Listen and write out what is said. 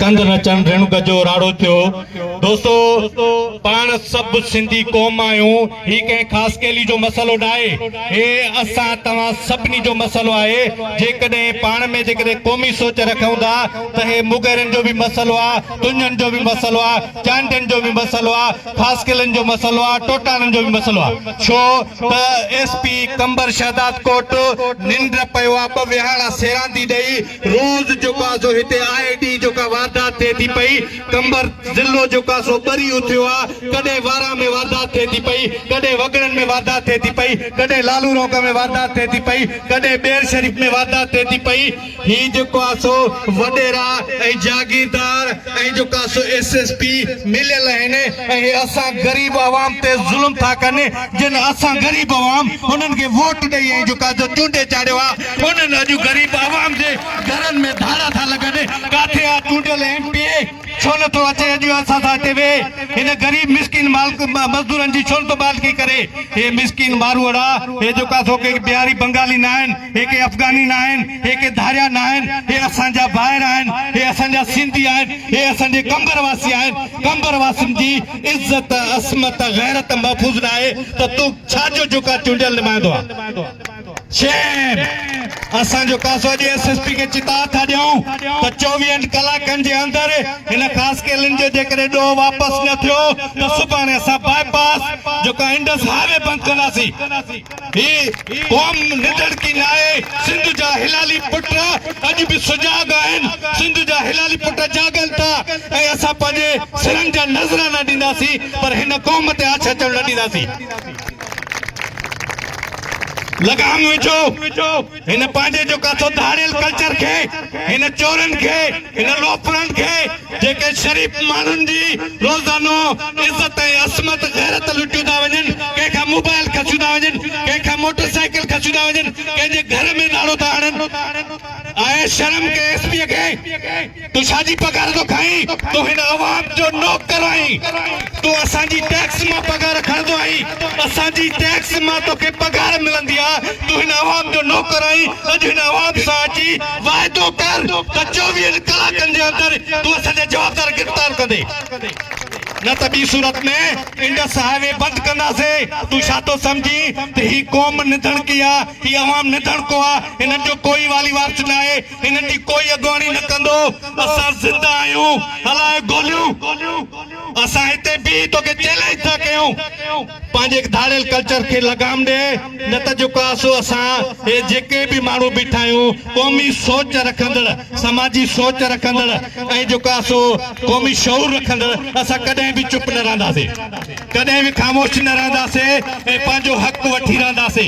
ڪنڌ نه چڻ ريڻڪ جو راڙو ٿيو. دوستو پاڻ سڀ سنڌي قوم آهيون هي ڪنهن خاص ڪيلي جو مسئلو ناهي هي اسان توهان سڀني جو مسئلو آهي جيڪڏهن پاڻ ۾ جيڪڏهن قومي سوچ رکون ٿا ته هي مغيرن جو به مسئلو آ تنجن جو به مسئلو آ چانڊين جو به مسئلو آ خاص ڪيلن جو مسئلو آ ٽوٽاڻن جو به مسئلو آ ڇو ته ايس پي قمبر شهدادڪوٽ ننڊ پيو آ ٻه ويهاڻا سيراندي ڏئي روز جيڪو آ سو هتي آء ڊي جو ڪا واردات ٿئي ٿي پئي قمبر ضلعو جيڪو آ سو ٻري اٿيو آ ڪڏهن واران ۾ واردات ٿئي ٿي پئي ڪڏهن وڳڙن ۾ واردات ٿئي ٿي پئي ڪڏهن لالو رونق ۾ واردات ٿئي ٿي پئي ڪڏهن ٻير شريف ۾ واردات ٿئي ٿي پئي هي جيڪو آ سو وڏيرا ۽ جاگيردار ۽ جو ڪا سو ايس ايس پي مليل آهن اهي اسان غريب عوام تي ظلم ٿا ڪن جن اسان غريب عوام انهن کي ووٽ ڏئي ۽ جو ڪا سو چونڊي چاڙهيو آ انهن اڄ غريب عوام جي گهرن ۾ ڌاڙا ٿا لڳن ڪاٿي آ چونڊيل ايم پي اي ڇو نه ٿو اچي اڄ اسان سان هتي ويهي هن غريب مسڪين مالڪ مزدورن جي ڇو نه ٿو مالڪي ڪري اهي مسڪين ماروئڙا اهي جو ڪا سو ڪي بهاري بنگالي نه آهن اهي ڪي افغاني نه آهن. هي ڪي ڌاريا ناهن، هي اسان جا ڀائر آهن، هي اسان جا سنڌي آهن، هي اسان جي قمبر واسي آهن، قمبر واسين جي عزت، عصمت، غيرت محفوظ ناهي ته تون ڇا جو جوڪا چونڊيل نمائندو آهين. شيم! اسان جو ڪاسو اڄ ايس ايس پي کي چتاء ٿا ڏيون ته چوويهن ڪلاڪن جي اندر هن خاصخيلين جو جيڪڏهن ڏوهه واپس نه ٿيو ته سڀاڻي اسان باء پاس جوڪا انڊس هاء وي بند ڪنداسين. هي قوم نڌڻڪي ناهي، سنڌ جا هلالي پٽ اڄ به سجاڳ آهن، سنڌ جا هلالي پٽ جاڳن ٿا ۽ اسان پنهنجي سرن جا نذرانا ڏينداسين پر هن قوم تي آڇ اچڻ نه ڏينداسين. لگام وجهو. هن پنهنجي جو ڪاٿو ڌاڙيل ڪلچر کي، هن چورن کي، هن لوفرن کي جيڪي شريف ماڻهن جي روزانو عزت ۽ عصمت غيرت لٽيون ٿا وڃن، ڪنهن کان موبائل کسيون ٿا وڃن، ڪنهن کان موٽر سائيڪل کسيون ٿا وڃن، ڪنهن جي گهر ۾ ڌاڙو ٿا هڻن. آهي شرم ڪنهن ايس پيء کي. تون ڇا جي پگهار ٿو کائين؟ تون هن عوام جو نوڪر آهين. تون اسان جي ٽيڪس مان پگهار کڻندو آهين. اسان جي ٽيڪس مان توکي پگهار ملندي آ. تون هن عوام جو نوڪر آهين. اڄ هن عوام سان اچي واعدو ڪر ته چوويهن ڪلاڪن جي اندر تون اسان جا جوابدار گرفتار ڪندي. نه ته ٻي صورت ۾ انڊس هاء وي بند ڪنداسين. تون ڇا ٿو سمجهين ته هي قوم نڌڻڪي آ. هي عوام نڌڻڪو آ. هنن جو ڪوئي والي وارث ناهي. هنن جي ڪوئي اڳواڻي نه ڪندو اسان زنده آهيون هلائي گوليون اسان هتي بيهي توکي چئلينج ٿا ڪيون پنهنجي هڪ ڌاڙيل ڪلچر کي لگام ڏي نه ته جيڪو آهي سو اسان هي جيڪي به ماڻهو بيٺا آهيون قومي سوچ رکندڙ سماجي سوچ رکندڙ ۽ جيڪو آهي سو قومي شعور رکندڙ اسان ڪڏهن به چپ نه رهنداسي ڪڏهن به خاموش نه رهنداسي ۽ پنهنجو حق وٺي رهنداسي.